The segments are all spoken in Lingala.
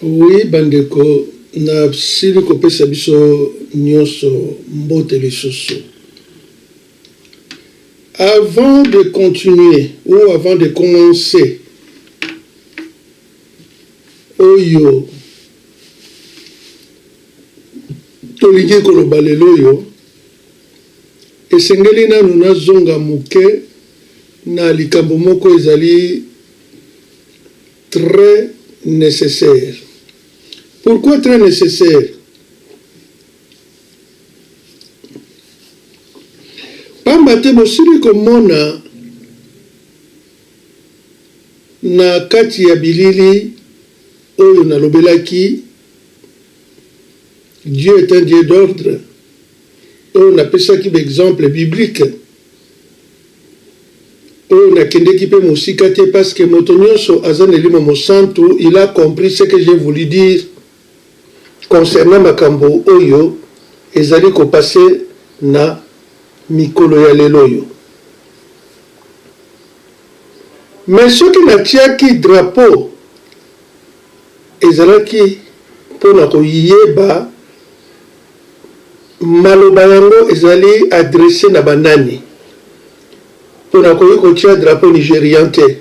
Oui bandeko nasili kopesa biso nionso mbote lisusu. Avant de continuer ou avant de commencer oyo tolingi koloba lelo oyo Esengeli nanu nazonga muke na likambo moko ezali très necessaire. Pourquoi très necessaire? Pamba te bosili komona na kati ya bilili oyo nalobelaki Dieu est un Dieu d'ordre. oyo napesaki ba exemples bibliques, oyo nakendeki pe mosika te parce que moto nionso aza na elimo mosantu, il a compris ce que j'ai voulu dire concernant makambo oyo ezali ko passer na mikolo ya lelo oyo. Mais soki natiaki drapeau, ezalaki pona koyeba. Maloba yango ezali adresse na ba nani? Po nakoki kotia drapeau nigerian te.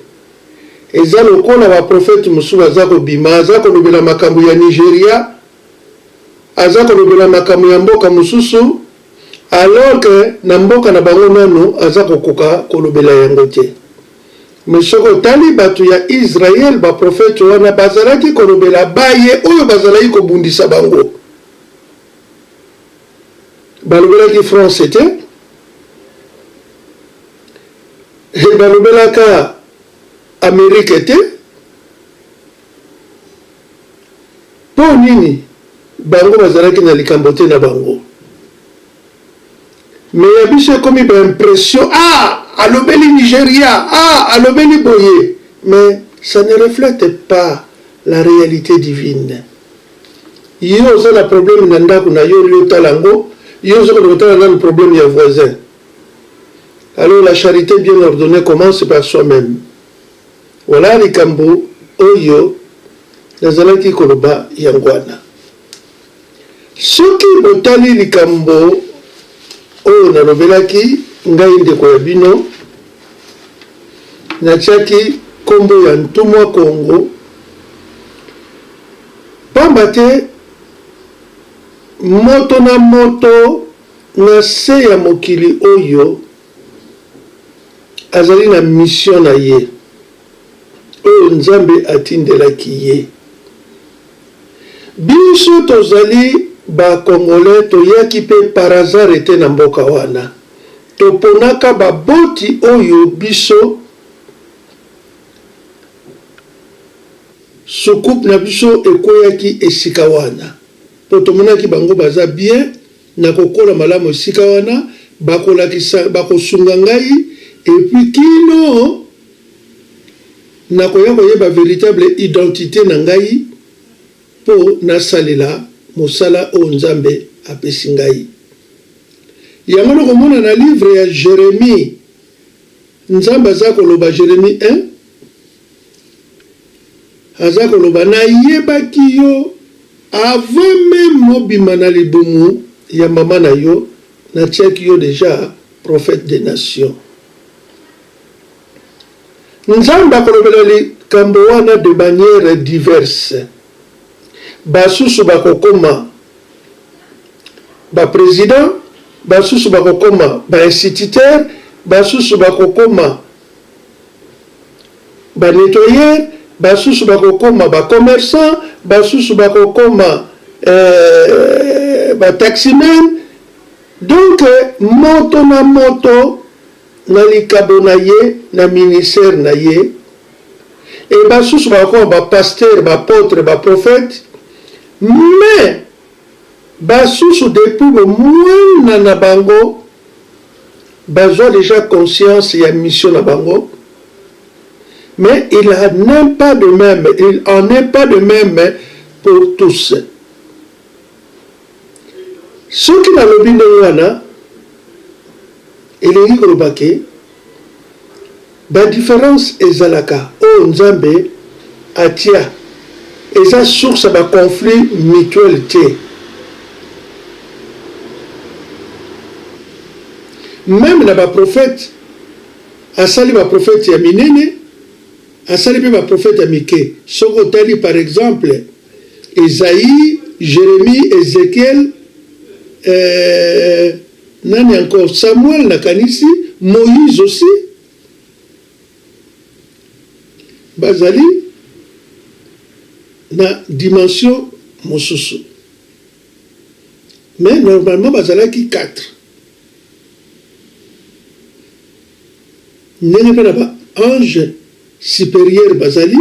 Eza lokola ba prophètes mosusu baza kobima, aza kolobela makambo ya Nigeria, aza kolobela makambo ya mboka mosusu, alors que na mboka na bango nanu aza kokoka kolobela yango te. Mais soki otali batu ya Israël, ba prophètes wana bazalaki kolobela baye oyo bazalaki kobundisa bango. Balobelaki France te he balobelaka Amerique te po nini bango bazalaki na likambo te na bango mais ya biso ekomi ba impression ah alobeli Nigeria ah alobeli boye mais ça ne reflète pas la réalité divine. Yo oza na problème na ndaku na yo yo tala yango yo ozo kende kotala nanu problème ya voisin alors la charite bien ordonnee commence par soi meme voilà likambo oyo nazalaki koloba yango wana soki botali likambo oyo nalobelaki ngai ndeko ya bino natiaki kombo ya ntumwa kongo Pamba te moto na moto na se ya mokili oyo azali na mission na ye oyo Nzambe atindelaki ye. Biso tozali ba Congolais toyaki pe par hasard te na mboka wana. Toponaka baboti oyo biso. Soucoupe na biso ekweyaki esika wana po tomonaki bango baza bien nako kola malamu esika wana bako lakisa bako sunga ngai et puis kino nako ya koyeba veritable identite na ngai po na salela mosala oyo Nzambe apesi ngai yango noko mona na livre ya Jeremie Nzambe aza koloba Jeremie un. Aza koloba na yebaki yo avant meme obima na libumu ya maman na yo na tiaki yo dejà prophète des nations. Nzambe akolobela likambo wana de manière diverse. Basusu bakokoma ba presidents, basusu bakokoma ba instituteurs, basusu bakokoma ba nettoyeur, basusu bakokoma ba commerçant, basusu bakokoma ba taximan, donc moto na moto na likabo na ye na ministère na ye et basusu bakokoma ba pasteurs, ba apotres, ba prophètes mais basusu depuis bo muana na bango, Bazwa dejà conscience ya mission na bango mais il a n'en pas de meme il en est pas de meme pour tous soki nalobi ndenge wana elingi koloba ke Ba differences ezalaka oyo Nzambe atia eza source ya ba conflits mutuels te. Meme na ba prophètes asali ba prophètes ya minene asali pe ba prophètes ya mike. Soki otali par exemple Esaïe, Jeremie, Ezechiel, eh, Nani encore? Samuel na kanisi Moïse aussi ba zali na dimension mosusu mais normalement ba zalaki quatre ndenge pe na ba ange superieur ba zali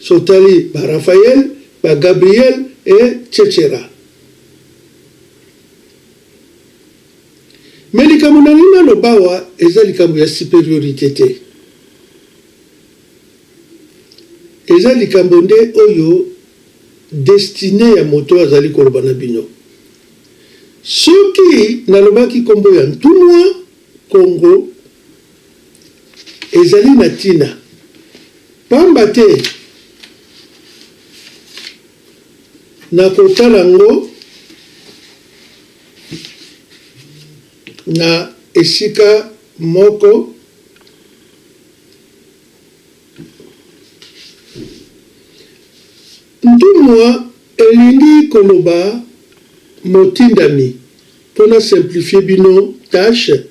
so tali ba Raphaël ba Gabriel et cetera. Mais likambo nalingi naloba awa eza likambo ya superiorite te. Eza likambo nde oyo destinee ya moto oyo azali koloba na bino. Soki nalobaki kombo ya ntumwa Kongo ezali na tina pamba te. Na kotala yango na esika moko, ntumwa elingi koloba motindami. Mpo na simplifier bino tache,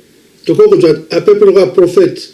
tokoki kozwa à peu près lokola prophète.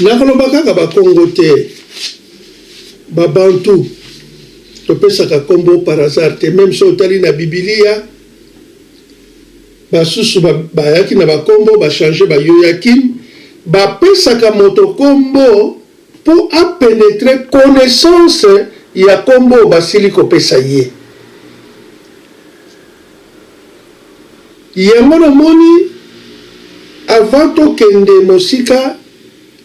Nakoloba kaka ba Kongo te, ba Bantu topesaka kombo par hasard te, meme soki otali na Bibilia basusu bayaki na ba kombo ba changer ba Yoyakim, bapesaka moto kombo. po a penetre connaissance ya kombo oyo basili kopesa ye yango na moni avant to kende mosika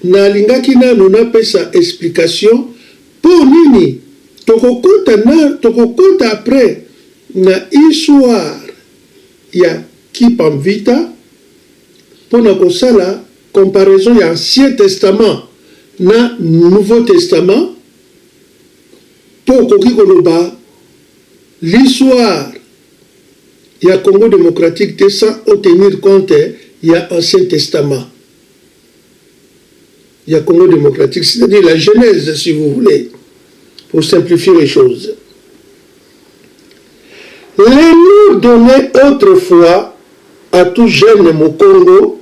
na lingaki nanu na pesa explication po nini toko kota na toko kota après na histoire ya kipamvita pona kosala Comparaison ya Ancien Testament na Nouveau Testament mpo okoki koloba l'histoire ya Congo democratique te sans o tenir compte ya Ancien Testament ya Congo democratique, c'est-à-dire la Genèse si vous voulez pour simplifier les choses. Les noms donnez autrefois à tout jeune Mukongo,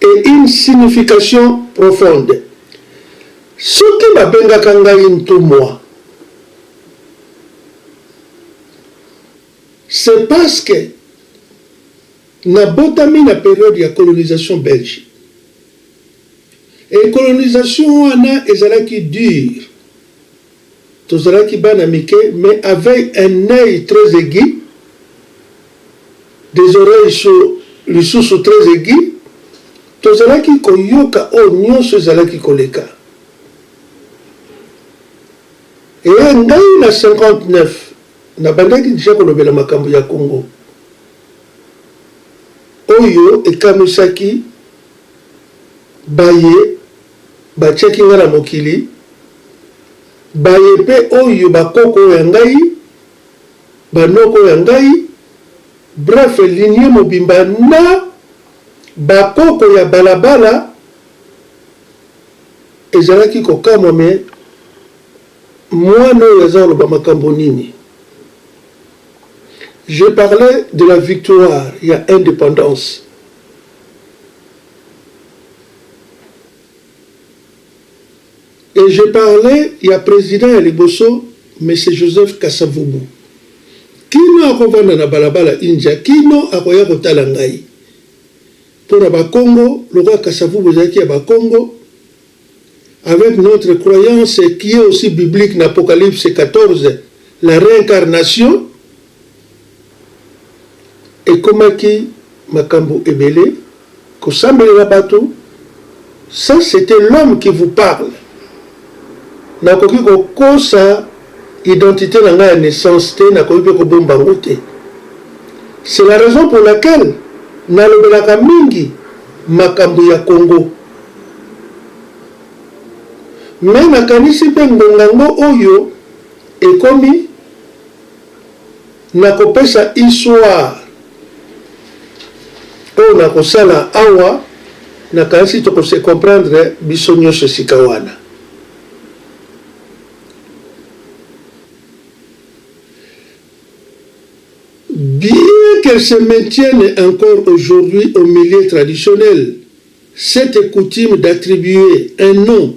et une signification profonde soki ba bengaka ngai ntumua c'est parce que na botami na periode ya colonisation belge et colonisation wana ezalaki dure Tozalaki bana mike mais avei un oeil très aigu, des oreilles sur lisusu très aigu, tozalaki koyoka oyo nionso ezalaki koleka. Ee, ngai na 59 nabandaki dejà kolobela makambo ya Congo. Oyo ekamwisaki baye. Batiaki ngai na mokili, baye mpe oyo bakoko ya ngai, banoko ya ngai, bref lignee mobimba na bakoko ya balabala, ezalaki kokamwa mais mwana oyo aza koloba makambo nini? Je parlais de la victoire ya independance. Et je parle ya president ya liboso monsieur Joseph Kasa-Vubu. Kino akovanda na balabala India, kino akoya kotala ngai. Mpo na Bakongo, lokola Kasa-Vubu ezalaki ya Bakongo, avec notre croyance qui est aussi biblique na Apocalypse 14, la reincarnation, ekomaki makambu ebele kosambelela batu ça c'etait l'homme qui vous parle nakoki kokosa identite na ngai ya naissance te nakoki pe kobomba yango te c'est la raison pour laquelle nalobelaka mingi makambu ya Congo mais nakanisi pe ngonga ngo oyo ekomi Nakopesa histoire oyo nakosala awa, nakanisi toko se comprendre biso nionso esika wana. Bien qu'elle se maintienne encore aujourd'hui au milieu traditionnel, cette coutume d'attribuer un nom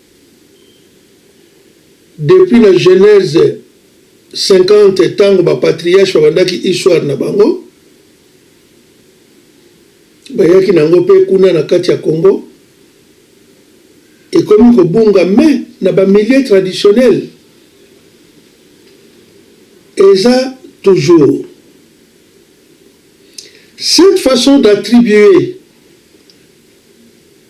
Depuis na Genese 50 tango ba patriarches babandaki histoire na bango, bayaki na yango mpe kuna na kati ya Congo, ekomi kobunga mais na ba milieux traditionnels eza toujours. Cette façon d'attribuer.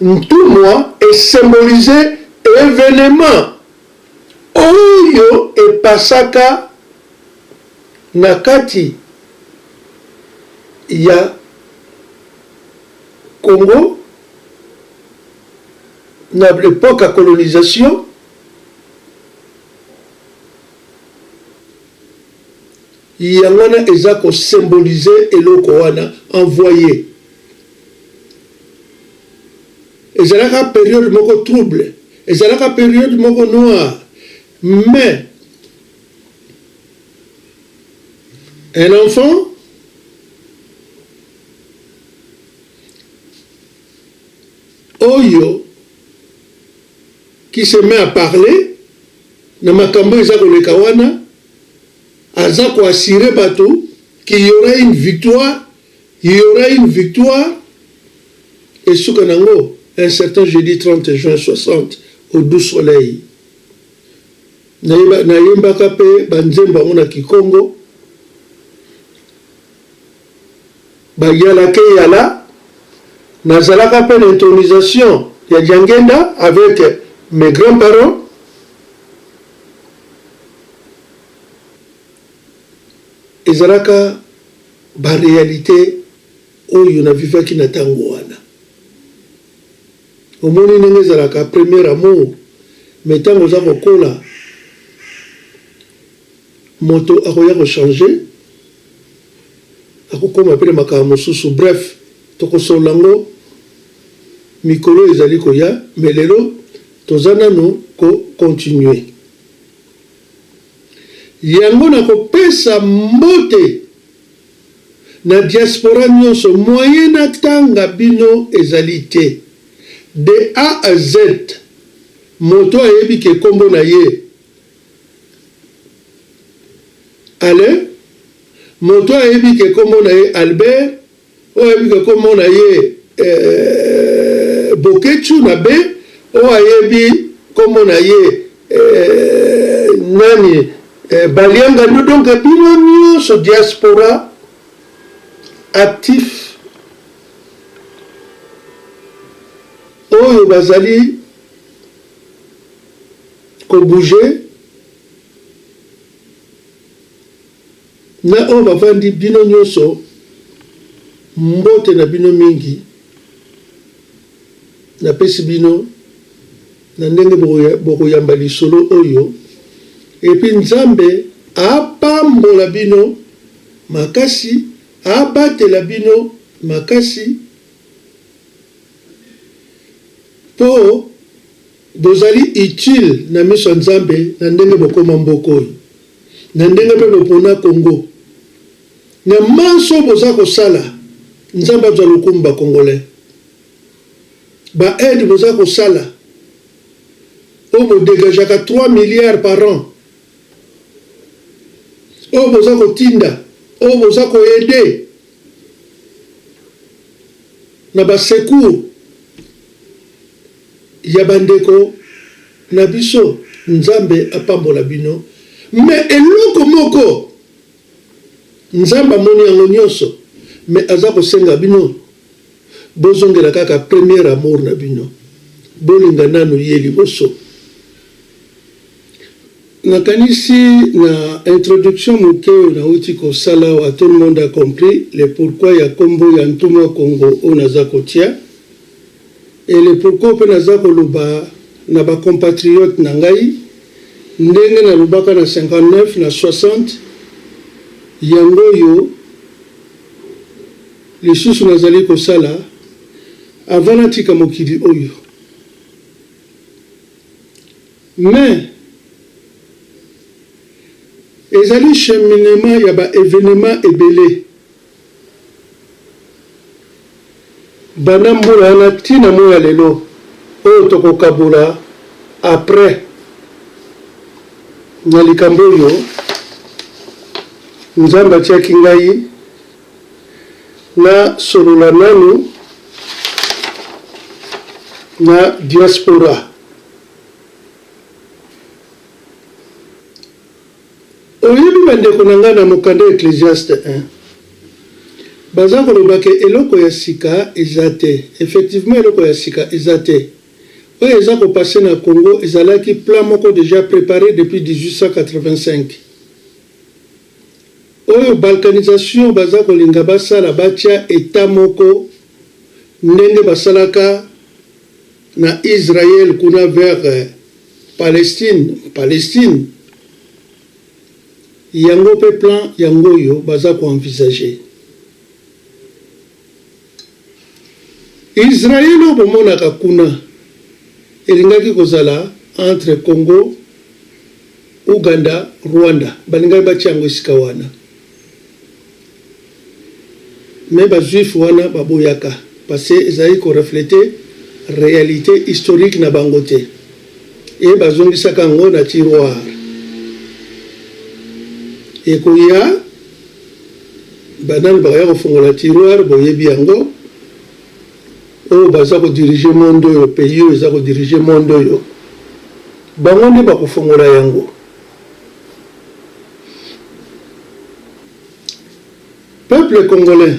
Ntumwa e symboliser evenement oyo e passaka na kati ya Congo na l'epoque ya colonisation Yango wana eza ko symboliser eloko wana envoye. Ezalaka periode moko trouble, ezalaka periode moko noire mais un enfant oyo qui se met à parler na makambo oyo eza koleka wana, Aza ko assurer batu qu'il y aura une victoire, il y aura une victoire et suka nango un certain jeudi 30 juin 60 au Doux Soleil. Na yembaka mpe ba nzembo yango na kikongo. Ba yala ke yala. Nazalaka mpe na intronisation ya Diangenda avec mes grands parents. Ezalaka ba realites oyo na vivaki na tango wana. Omoni ndenge ezalaka premier amour mais tango oza ko kola moto akoya ko changer, ako koma pe na makambo mosusu. Bref, toko solola yango mikolo ezali koya mais lelo toza nanu ko continuer. Yango na kopesa mbote na diaspora nionso moyen na tanga bino ezali te de A à Z moto ayebi ke kombo na ye Alain moto ayebi ke kombo na ye Albert Oyebi ke kombo na ye eeh Boketshu na be oyo ayebi kombo na ye eeh nani eeh Baliangadu donc bino nionso diaspora actif oyo bazali ko bouger Na oyo bavandi, bino nyonso, mbote na bino mingi. Napesi bino na ndenge bokoyamba lisolo oyo, epi Nzambe apambola bino makasi, abatela bino makasi, po. Bozali utile na miso ya Nzambe na ndenge bokoma mboka oyo, na ndenge pe bopona Congo. Na manso oyo boza kosala, Nzambe azwa lokumu ba Congolais. Ba aides boza kosala, oyo bo degageaka trois milliards par an, oyo boza kotinda, oyo boza ko aider na ba secours, ya ba ndeko na biso nzambe apambola bino mais eloko moko nzambe amoni yango nionso mais aza kosenga bino bozongela kaka premier amour na bino bolinga nanu ye liboso nakanisi na introduction moke oyo nauti kosala awa tout le monde a compris le pourquoi ya kombo ya ntumwa kongo oyo naza kotia Et le pourquoi pe naza koloba na ba compatriotes na ngai ndenge nalobaka na 59 na 60 yango oyo lisusu nazali kosala avant natika mokili oyo. Mais ezali cheminement ya ba evenements ebele. Banda mbula wana ti na moyi ya lelo oyo toko kabola après na likambo oyo Nzambe atiaki ngai na solola nanu na diaspora. Oyebi bandeko na ngai na mokanda Ecclesiastes eh. Baza koloba ke eloko ya sika eza te. Effectivement eloko ya sika eza te. Oyo eza ko passer na Congo ezalaki plan moko dejà preparer depuis 1885. Oyo balkanisation baza kolinga basala batia etat moko ndenge basalaka. na Israël kuna vers Palestine Palestine yango pe plan yango oyo baza ko envisager Israël oyo bomonaka kuna elingaki kozala entre Congo Ouganda Rwanda balingaki batia yango esika wana. Mais ba juifs wana ba boyaka parce que ezalaki ko refleter realite historique na bango te et ba zongisaka yango na tiroir. Ekoya ba nani bakoya ko fongola tiroir boyebi yango oyo baza ko diriger monde oyo pays oyo eza ko diriger monde oyo bango nde bako fongola yango. Peuple congolais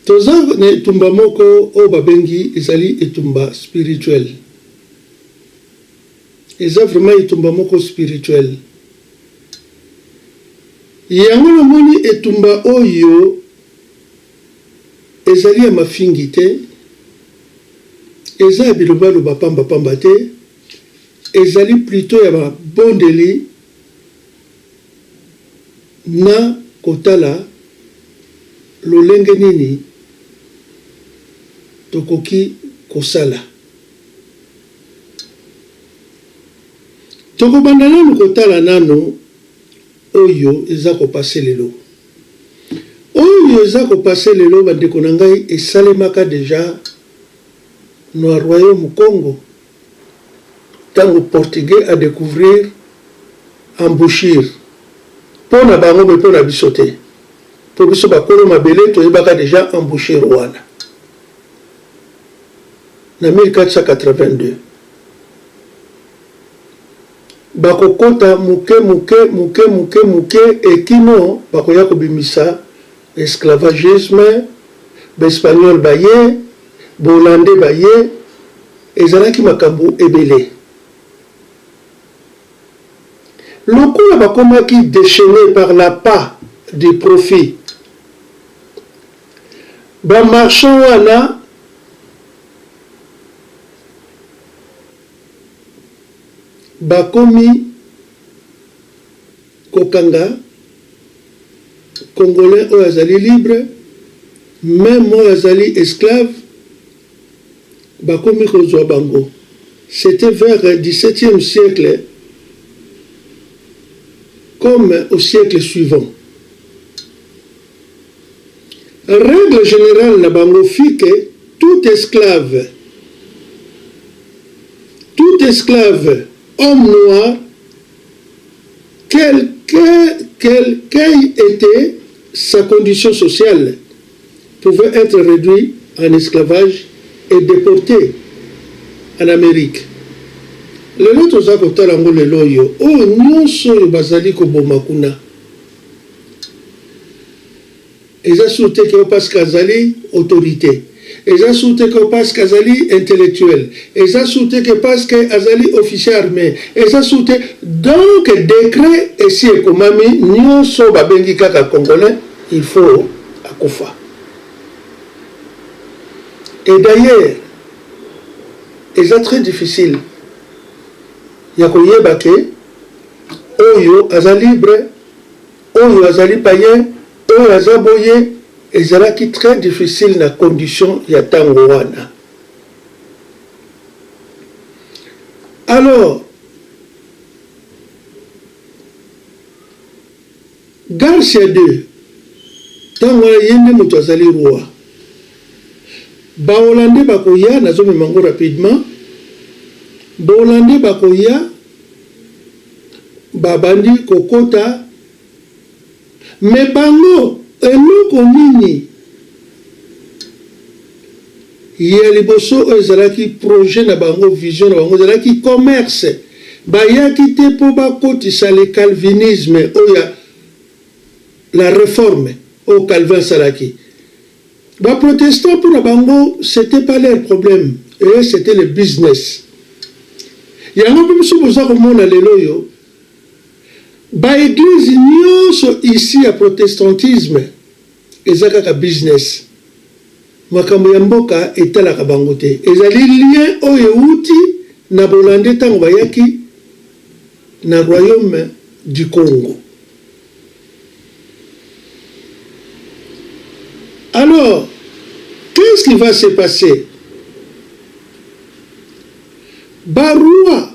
toza na etumba moko oyo babengi ezali etumba spirituel eza vraiment etumba moko spirituel yango na moni etumba oyo ezali ya mafingi te eza ya bilobaloba pamba pamba te ezali plutot ya babondeli na kotala lolenge nini tokoki kosala. Tokobanda nanu kotala nanu oyo eza ko passer lelo. Oyo eza ko passer lelo ba ndeko na ngai esalemaka dejà nua Royaume Kongo. tango portugais a decouvrir embouchure po na bango mais po na biso te po biso ba kolo mabele toyebaka dejà embouchure wana na 1482 bako kota muke muke muke muke muke et kino bakoya kobimisa Esclavagisme, ba Espagnol baye, ba Hollandais baye, ezalaki makambo ebele. Lokola bakomaki dechaines par l'appât du profit, ba marchands wana, bakomi kokanga. congolais oyo azali libre meme oyo azali esclave bakomi kozua bango c'etait vers 17ème siècle comme au siècle suivant règle generale na bango fit que tout esclave tout esclave homme noir Quel qu'aille ete sa condition sociale, pouvait etre reduit en esclavage et deporte en Amerique. Lelo toza kotala yango lelo oyo, oyo nionso oyo bazali koboma kuna. Eza sur te que Opask azali autorite. Eza sur te que Opask azali intellectuel. Eza sur te que Opask azali officier arme. Eza sur te. Donc decret esi ekomami nionso babengi kaka congolais il faut akufa. Et d'ailleurs eza très difficile ya koyeba que oyo aza libre oyo azali paien. Oyo aza bo ye ezalaki très difficile na condition ya tango wana alors Garcia de tango wana ye nde mutu azali roi ba hollandais bakoya nazo mema yango rapidement ba hollandais bakoya babandi kokota Mais bango eloko nini? Ya liboso oyo ezalaki projet na bango, vision na bango ezalaki commerce. Bayaki te mpo bakotisa le calvinisme oyo ya la reforme oyo Calvin asalaki. Ba protestants mpo na bango c'etait pas leur problème, eux c'etait le business. Yango mpe biso boza komona lelo oyo, Ba eglises nionso ici ya protestantisme eza kaka business, makambo ya mboka etalaka bango te. Ezali lien oyo ewuti na bolande tango bayaki na royaume du Congo. Alors, qu'est ce qui va se passer? Ba rois.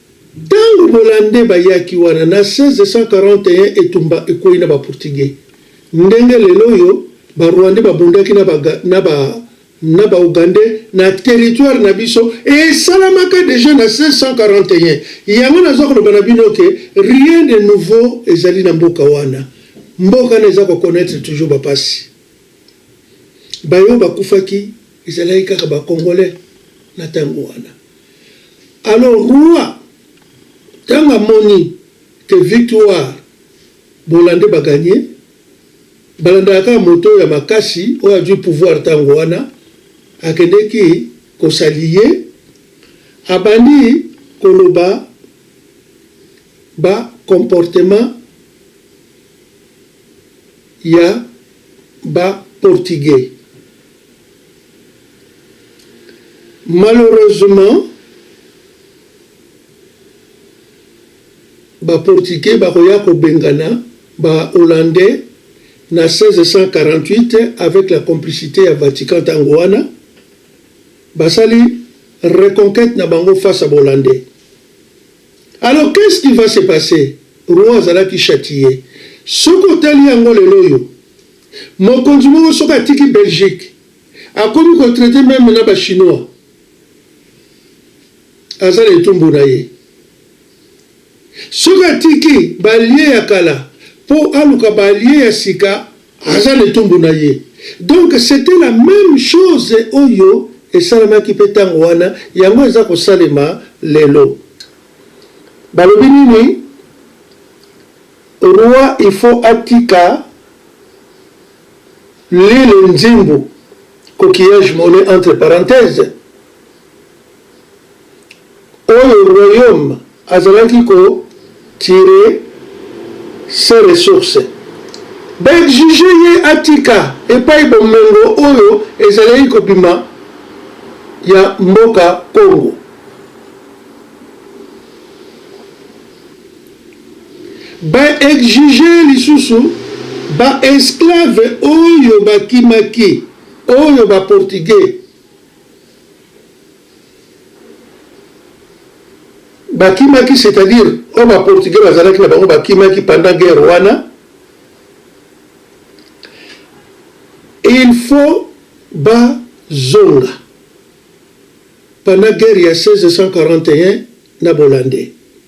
Tango bolande bayaki wana na 1641 etumba ekweyi na ba portugais ndenge lelo oyo ba rwandais babundaki na ba na ba na ba ougandais na territoire na biso esalamaka dejà na 1641 yango naza koloba na bino que rien de nouveau ezali na mboka wana mboka wana eza ko connaitre toujours ba pasi baye oyo bakufaki Ezalaki kaka ba congolais na tango wana. Alors Roi tango amoni que victoire Bolande ba gagne, balandaka kaka moto oyo ya makasi oyo azui pouvoir tango wana, akendeki ko s'allier, abandi koloba ba comportement ya ba portugais. Malheureusement ba portugais bakoya kobengana ba hollandais na 1648 avec la complicite ya Vatican tango wana basali reconquete na bango face ya ba hollandais alors qu'est ce qui va se passer roi azalaki chatiye soki otali yango lelo oyo Mokonzi moko soki atiki Belgique akomi ko traite meme na ba chinois aza na etumbu na ye. Soki atiki ba allies ya kala po aluka ba allies ya sika aza na etumbu na ye. Donc c'etait la meme chose oyo esalamaki pe tango wana yango eza kosalema lelo. Balobi nini? Roi il faut atika Lele nzembo coquillage mole entre parenthèse oyo royaume azalaki ko tire ses ressources ba exige ye atika epai bomengo oyo ezalaki kobima ya mboka Congo. Ba exiger ye lisusu ba esclaves oyo bakimaki, oyo ba portugais bakimaki, c'est à dire oyo ba portugais bazalaki na bango bakimaki pendant guerre wana, il faut bazonga pendant guerre ya 1641 na bolande.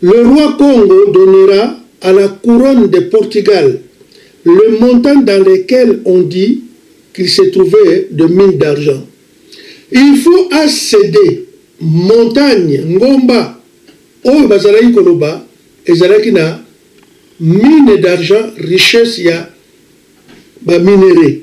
Le roi Kongo donnera à la couronne de Portugal le montant dans lequel on dit qu'il se trouvait de mines d'argent. Il faut a ceder montagne, ngomba, oyo bazalaki koloba ezalaki na mines d'argent, richesses ya ba minerais.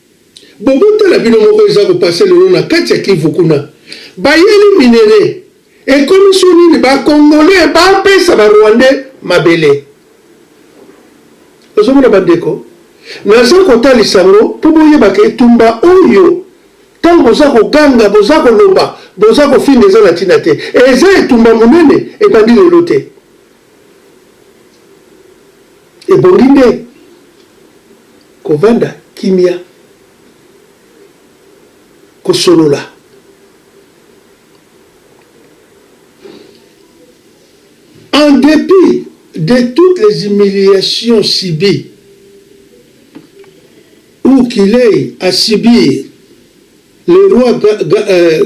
Boboto na bino moko eza ko passe lelo na kati ya kivu kuna bayeli minere ekomi sur nini ba congolais ba pesa ba rwandais mabele ozo mona ba ndeko naza ko talisa ngo po boyeba ke etumba oyo tango boza ko ganga boza ko loba boza ko finga eza na tina te eza etumba munene ebandi lelo te. Ebongi nde kovanda kimia, kosolola. En depit de toutes les humiliations subies ou qu'il ait à subir, le roi Ga Ga euh,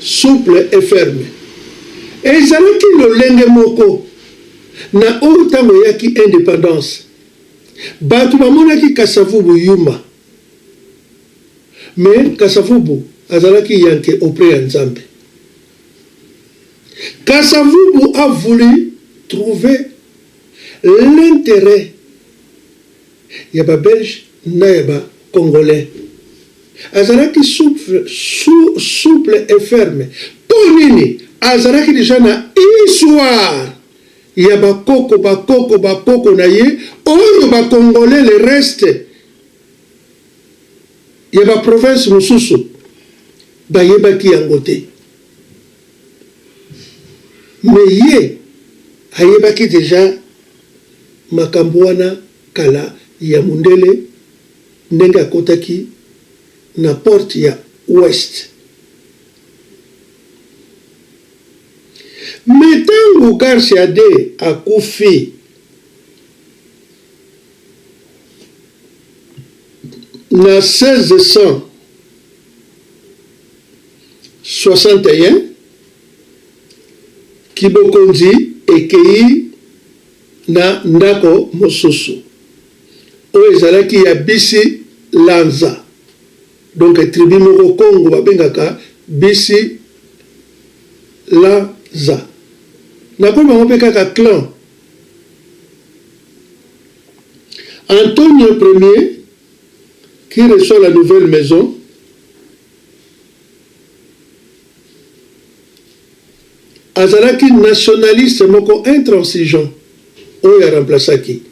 Souple et ferme. Ezalaki lolenge moko na oyo tango eyaki independance batu bamonaki Kasa-Vubu yuma mais Kasa-Vubu azalaki yanke auprès ya Nzambe. Kasa-Vubu a voulu trouver l'interet. ya ba belge na ya ba congolais azalaki souple et ferme po nini azalaki deja na histoire ya ba koko ba koko ba koko na ye oyo ba congolais le reste ya ba province mususu bayebaki yango te. Mais ye ayebaki dejà makambu wana kala ya mundele ndenge akotaki na porte ya ouest. Mais tangu Garcia de akufi na 16 decem 61 kibokonzi ekei na ndako mosusu oyo ezalaki ya bisi lanza donc tribu moko congo babengaka bisi lanza nakomi bango mpe kaka clan antonio premier Qui reçoit la nouvelle maison? Azalaki nationaliste moko intransigeant oyo a remplaçaki.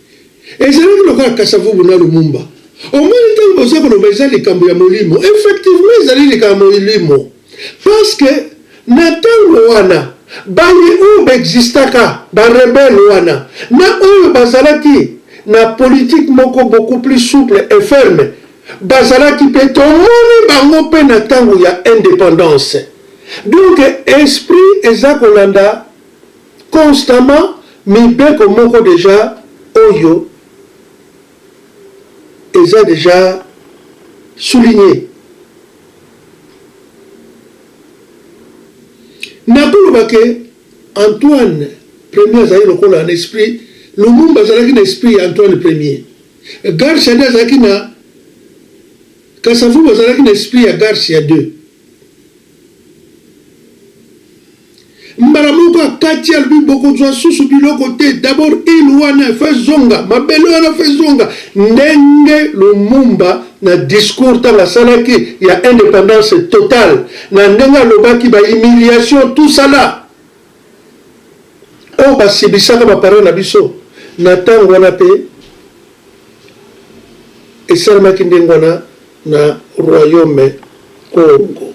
Ezalaki lokola Kasa-Vubu na Lumumba. Omoni ntango boza koloba eza likambo ya molimo. Effectivement ezali likambo ya molimo. Parce que na tango wana baye oyo ba existaka ba rebelles wana na oyo bazalaki na politique moko beaucoup plus souple et ferme bazalaki pe tomoni bango pe na tango ya independance donc esprit eza kolanda constamment mibeko moko dejà oyo eza dejà souligne nakoloba ke Antoine premier azali lokola na esprit Lumumba azalaki na esprit ya Antoine premier Garcia nde azalaki na Kasavubu azalaki na esprit ya Garcia 2 Mbala moko akati alobi bokozwa susu biloko te d'abord ile wana efa ezonga mabele wana efa ezonga ndenge Lumumba na discours tanga asalaki ya independance totale na ndenge alobaki ba humiliation tout ça là oyo oh, basibisaka ba parents na biso na tango wana pe esalemaki ndenge wana na royaume Congo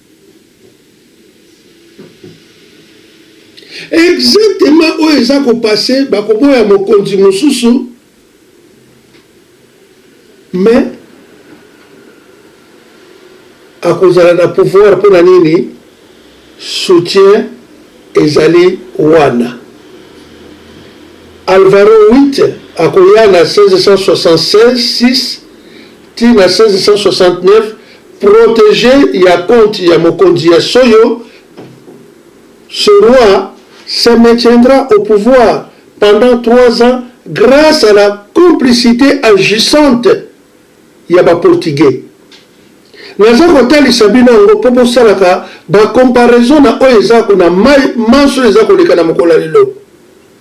Exactement oyo eza ko passer bakoboya mokonzi mosusu mais akozala na pouvoir mpo na nini soutien ezali wana alvaro 8 akoya na 1676 tii na 1669, protege ya compte ya mokonzi ya Soyo, ce roi se maintiendra au pouvoir pendant trois ans grace à la complicite agissante ya ba portugais. Naza kotalisa bino yango mpo bosalaka ba comparaison na oyo eza kuna mai manso eza koleka na mokolo ya lelo.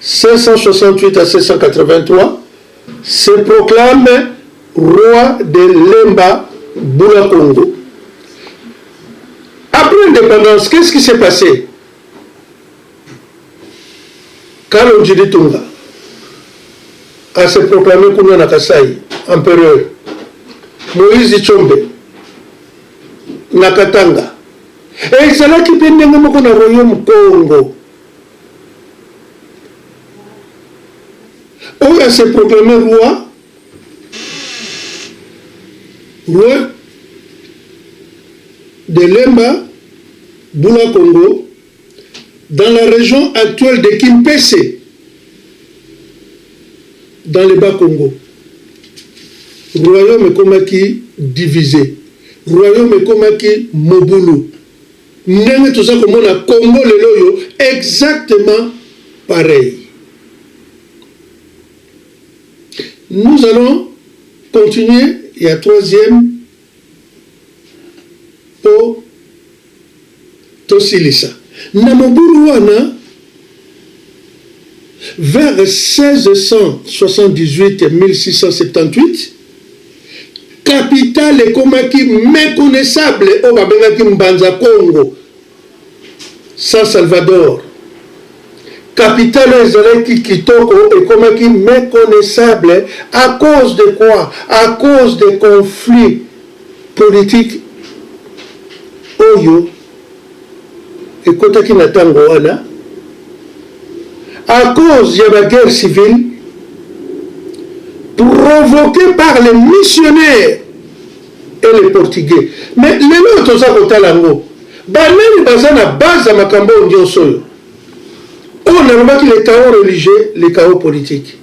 568 à 583 se proclame roi de Lemba Bula Congo. Après independance qu'est ce qui s'est passe? Kalonji Ditunga a se proclame kuna na Kasaï empereur. Moïse Tshombe na Katanga ezalaki mpe ndenge moko na royaume Congo. oyo a se proclamer roi roi de Lemba Bula Congo dans la région actuelle de Kimpese dans le bas Congo royaume ekomaki divisé royaume ekomaki mobulu Ndenge toza komona Congo lelo oyo exactement pareil. Nous allons continuer ya troisième po tosilisa na mobulu wana. Vers 1678-1678, capitale ekomaki meconnaissable oyo babengaki Mbanza Kongo, San Salvador. Capitale oyo ezalaki kitoko ekomaki meconnaissable à cause de quoi? À cause des conflits politiques oyo ekotaki na tango wana à cause ya ba guerre civile provoquer par les missionnaires et les portugais mais lelo oyo toza kotala yango banani baza na base ya makambo oyo nyonso oyo oyo nalobaki le chaos religieux le chaos politique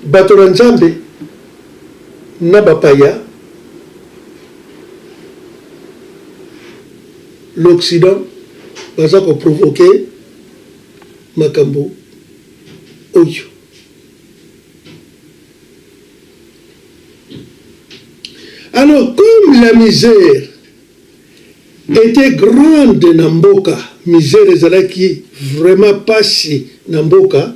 bato na nzambe na bapaya, l'occident baza ko provoque makambo oyo. Alors comme la misère etait grande na mboka, misère ezalaki vraiment pasi na mboka,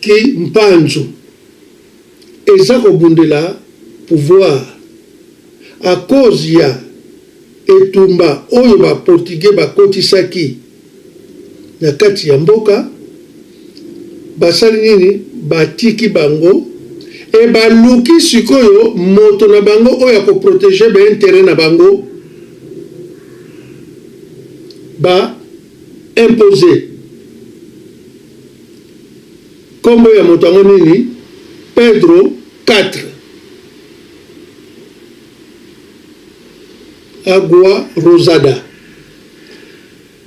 Ki mpanzu eza ko bundela pouvoir à cause ya etumba oyo ba portugais ba kotisaki na kati ya mboka, ba sali nini? Ba tiki bango et ba luki sikoyo moto na bango oyo ako proteger ba interets na bango ba imposer. Nkombo ya moto yango nini? Pedro 4 Agua Rosada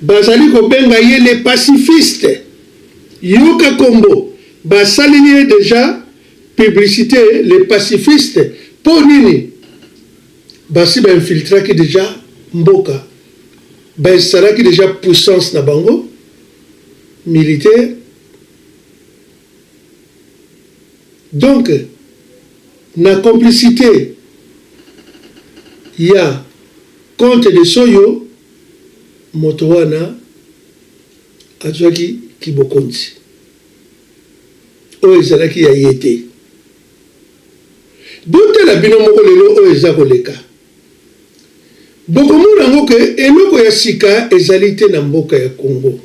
Bazali kobenga ye le pacifiste. Yoka kombo basaleli ye deja publicite le pacifiste mpo nini? Basi ba infiltraki deja mboka, bainstallaki deja puissance na bango. militaire donc na complicite ya comte de soyo moto wana azwaki kibokonzi oyo ezalaki ya ye te botala bino moko lelo oyo eza koleka Bokomona yango que eloko ya sika ezali te na mboka ya Congo.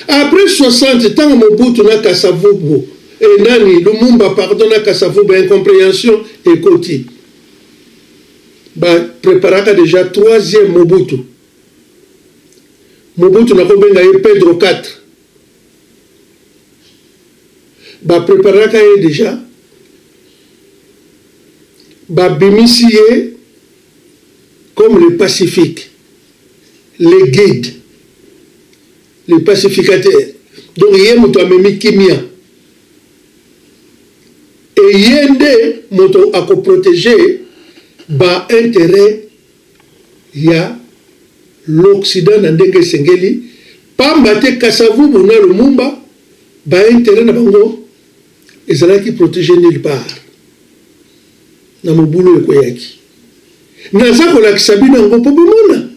Après 60 tango Mobutu na Kasa-Vubu eh, nani Lumumba pardon na Kasa-Vubu incomprehension ekoti. Ba preparaka dejà troisième Mobutu. Mobutu nakobenga ye Pedro 4. ba preparaka ye dejà ba bimisi ye comme le pacifique le guide le pacificateur donc ye moto amemi kimia et ye nde moto ako proteger ba interet ya l'Occident na ndenge esengeli, pamba te Kasa-Vubu na Lumumba ba interets na bango ezalaki proteges nulle part na mobulu oyo ekweyaki. Naza kolakisa bino yango mpo bomona.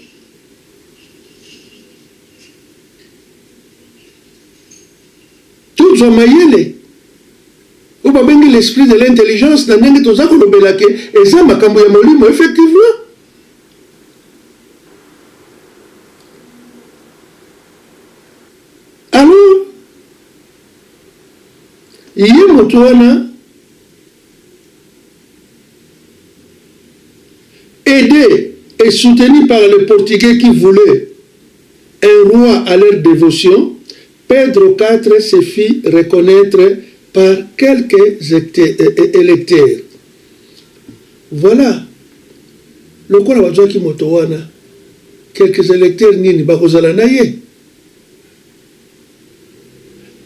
Tozwa mayele oyo babengi l'esprit de l'intelligence na ndenge toza kolobela que eza makambo ya molimo effectivement. Alors, ye moto wana aide et soutenu par les portugais qui voulaient un roi à leur devotion, Pedro Katre se fit reconnaitre par quelques electeurs. Voilà, lokola bazuaki moto wana, quelques electeurs nini bakozala na ye?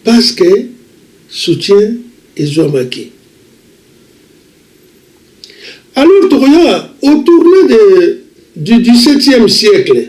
Parce que soutien ezuamaki. Alors tokoya au tournant de du dix-septième siècle,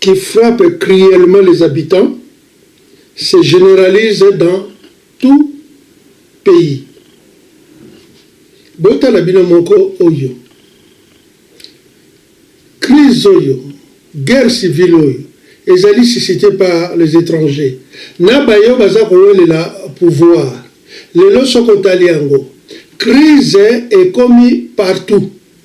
qui frappe cruellement les habitants se generalise dans tout pays botala bino moko oyo crise oyo guerre civile oyo ezali suscite par les etrangers na bayo baza kowelela pouvoir lelo soki otali yango crise ekomi partout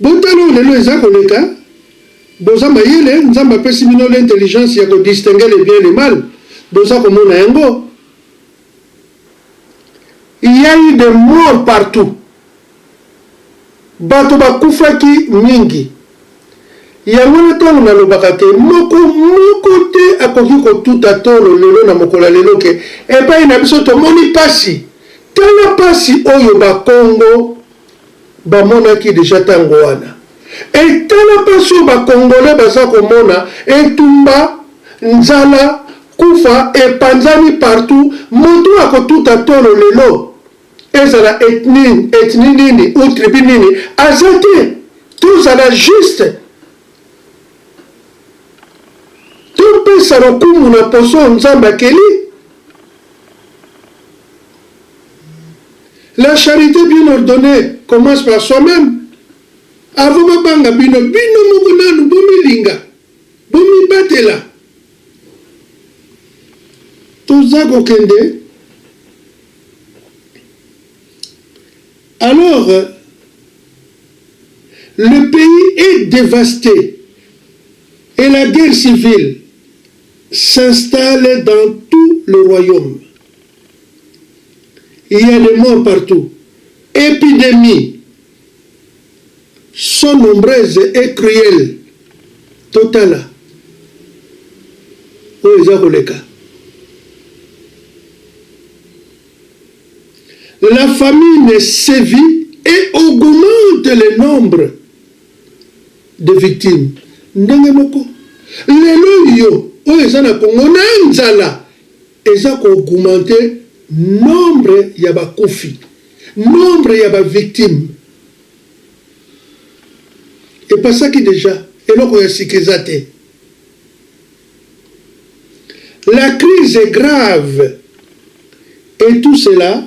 Botala oyo lelo eza koleka boza mayele nzambe apesi bino l'intelligence ya ko distinguer le bien le mal boza komona yango il ya eu de mort partout bato bakufaki mingi yango wana tango nalobaka ke moko moko te akoki kotuta tolo lelo na mokolo ya lelo ke epai na biso tomoni pasi tala pasi oyo bakongo Bamonaki dejà tango wana. Et tala pasi oyo ba congolais baza komona, etumba, nzala, kufa epanzani partout, moto oyo akotuta tolo lelo, ezala ethnie ethnie nini ou tribu nini, aza te. Tozala juste. Topesa lokumu na poso oyo Nzambe akeli. La charite bien ordonne commence par soi meme avant ba banga bino bino moko nanu bo milinga bo mibatela toza ko kende alors le pays est devaste et la guerre civile s'installe dans tout le royaume Il ya des morts partout epidemies sont nombreuses et cruelles totala oyo eza koleka la famine sévit et augmente le nombre de victimes ndenge moko lelo yo oyo eza na Congo na nzala Eza ko augmenter nombre ya bakufi, nombre ya ba victimes epasaki dejà, eloko ya sika eza te. La crise est grave et tout cela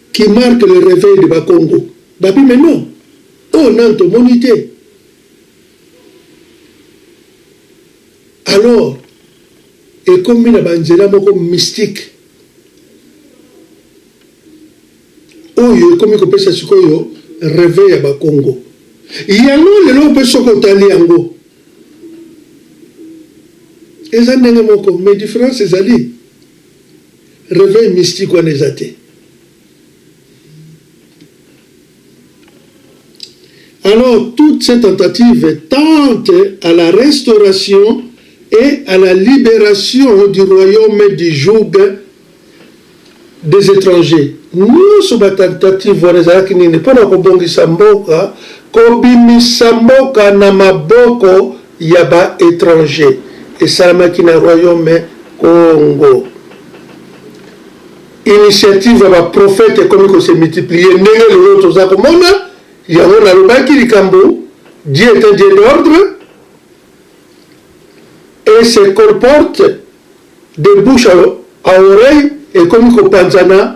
qui marque le reveil de bakongo babi mais non oyo nanu tomoni te alors ekomi na ba nzela moko mystique oyo ekomi kopesa sikoyo reveil ya bakongo yango lelo mpe soki otali yango eza ndenge moko mais difference ezali Reveil mystique wana eza te. Alors, toutes ces tentatives tentent à la restauration et à la libération du royaume du joug des étrangers. nyonso batentative wana ezalaki nini mpo na kobongisa mboka kobimisa mboka na maboko ya ba etrangers esalamaki na Royaume Kongo. Initiative ya ba prophètes ekomi ko se multiplier ndenge lelo toza komona yango. Nalobaki likambo Dieu est un Dieu d'ordre et se colporte de bouche à oreille ekomi kopanzana.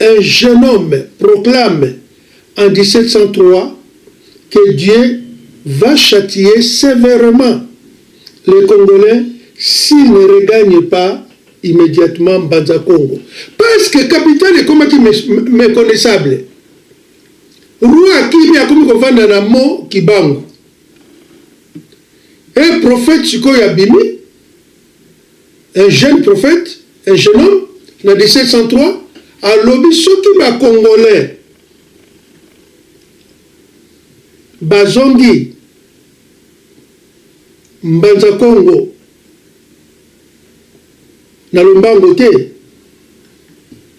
Un jeune homme proclame en 1703 que Dieu va chatiller severement les congolais s'ils ne regagnent pas immediatement Mbanza Kongo parce que capitale ekomaki meconnaissable. Roi akimi akomi kovanda na mont Kibangu et prophète sikoyo abimi. Un jeune prophète, un jeune homme, na 1703, alobi soki ba congolais bazongi Mbanza Kongo na lombango te,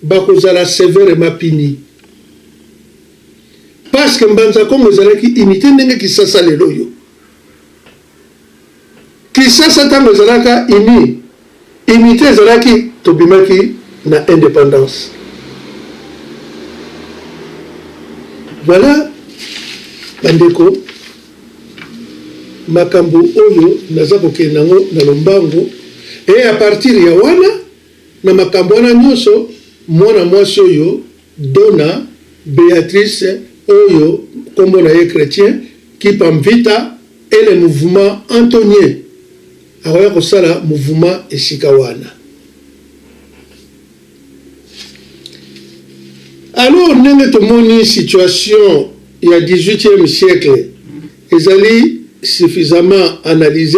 bakozala severement punis. Parce que Mbanza Kongo ezalaki unite ndenge Kisasa lelo oyo. Kisasa tango ezalaka uni unite ezalaki tobimaki na independance voila ba ndeko makambo oyo naza kokende nango na lombango et apartir ya wana na makambo wana nionso mwana mwasi oyo Dona Beatrice oyo kombo na ye Chretien Kipamvita et le mouvement Antonien akoya kosala mouvement esika wana. Alors ndenge tomoni situation ya 18ieme siècle ezali suffisamment analyse.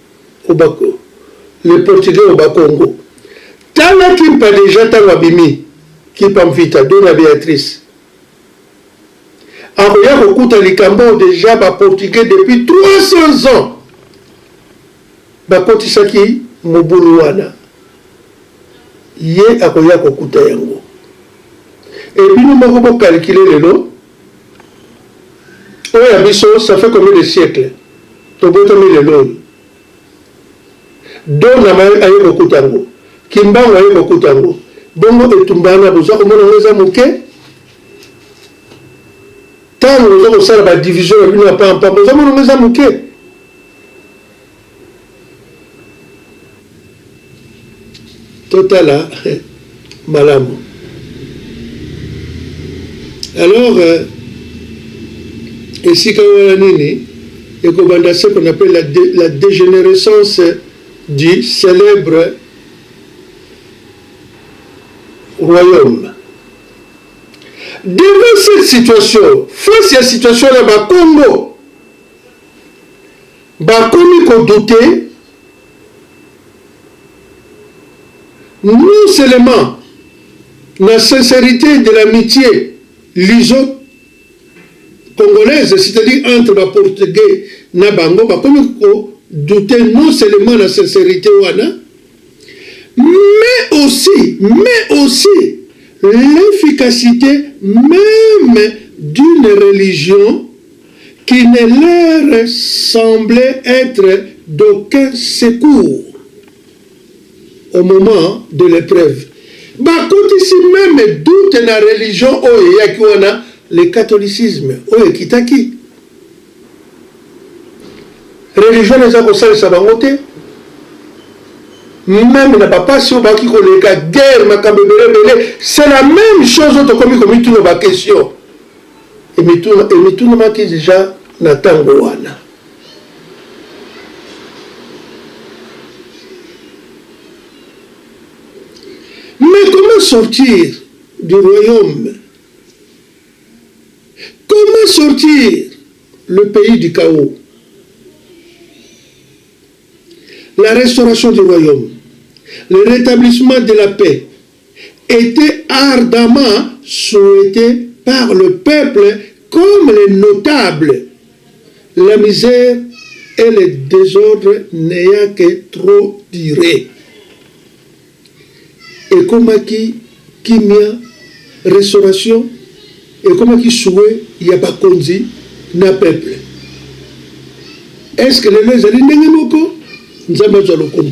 Le portugais au bas congo tala kimpa dejà tango abimi kimpa mvita dona beatrice akoya kokuta likamboo dejà ba portugais depuis 300 ans bakotisaki mobulu wana ye akoya kokuta yango et bino moko bo calculer lelo Oyo ya biso ça fait combien de siècles tobotami lelo oyo Donama aye kokuta yango, Kimbangu aye kokuta yango bongo etumba wana boza komona yango eza moke? Tango boza kosala ba division na bino ya pampa boza mona yango eza moke? Totala malamu. Alors euh, esika wana nini ekobanda ce qu'on appelle la, dé, la dégénérescence du célèbre royaume. Devant cette situation, face à la situation là-bas, Congo, Bakomi ko douter non seulement na sincerite de l'amitie luso congolaise c'est à dire entre ba portugais na bango, bakomi ko douter non seulement na sincerite wana mais aussi mais aussi l'efficacite meme d'une religion qui ne leur semblait etre d'aucun secours au moment de l'epreuve, bakotisi meme doute na religion oyo eyaki wana, le catholicisme oyo ekitaki. Religion wana eza kosalisa bango te, meme na ba pasi oyo bakoki koleka, guerre, makambo ebele ebele, c'est la meme chose oyo tokomi komituna ba questions. Emitunamaki dejà na tango wana. Mais comment sortir du royaume? Comment sortir le pays du chaos? La restauration du royaume, le retablissement de la paix, etait ardemment souhaite par le peuple comme les notables, la misère et le desordre n'ayant que trop dure, ekomaki kimia, restauration, ekomaki souhait ya bakonzi na peuple. Est ce que lelo ezali ndenge moko? Nzambe azwa lokumu.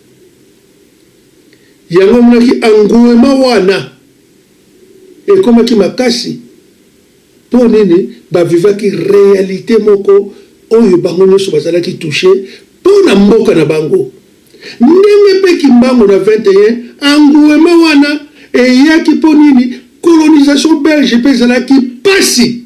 Yango emonaki engouement wana ekomaki makasi mpo nini ba vivaki realite moko oyo bango nionso bazalaki touche mpo na mboka na bango ndenge mpe kimbangu na 21 engouement wana eyaki mpo nini colonisation belge mpe ezalaki pasi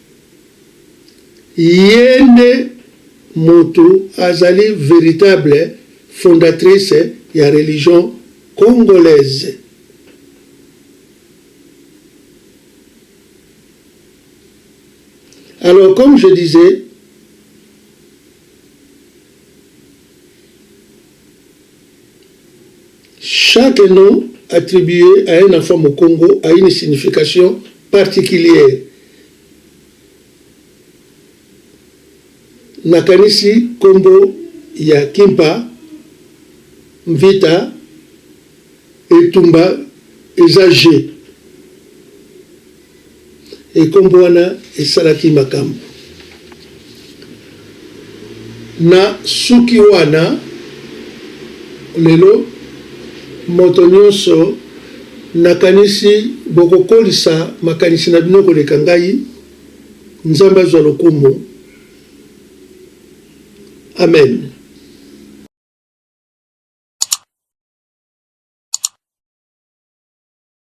Ye nde mutu azali veritable fondatrice ya religion congolaise. Alors comme je disais, Chaque nom attribue à un enfant mukongo a une signification particulière. Nakanisi kombo ya Kimpa, Mvita, Etumba eza jeux. Ekombo wana esalaki makambo. Na suki wana lelo moto nionso na kanisi boko kolisa makanisi na bino koleka ngai nzambe azwa lokumu amen.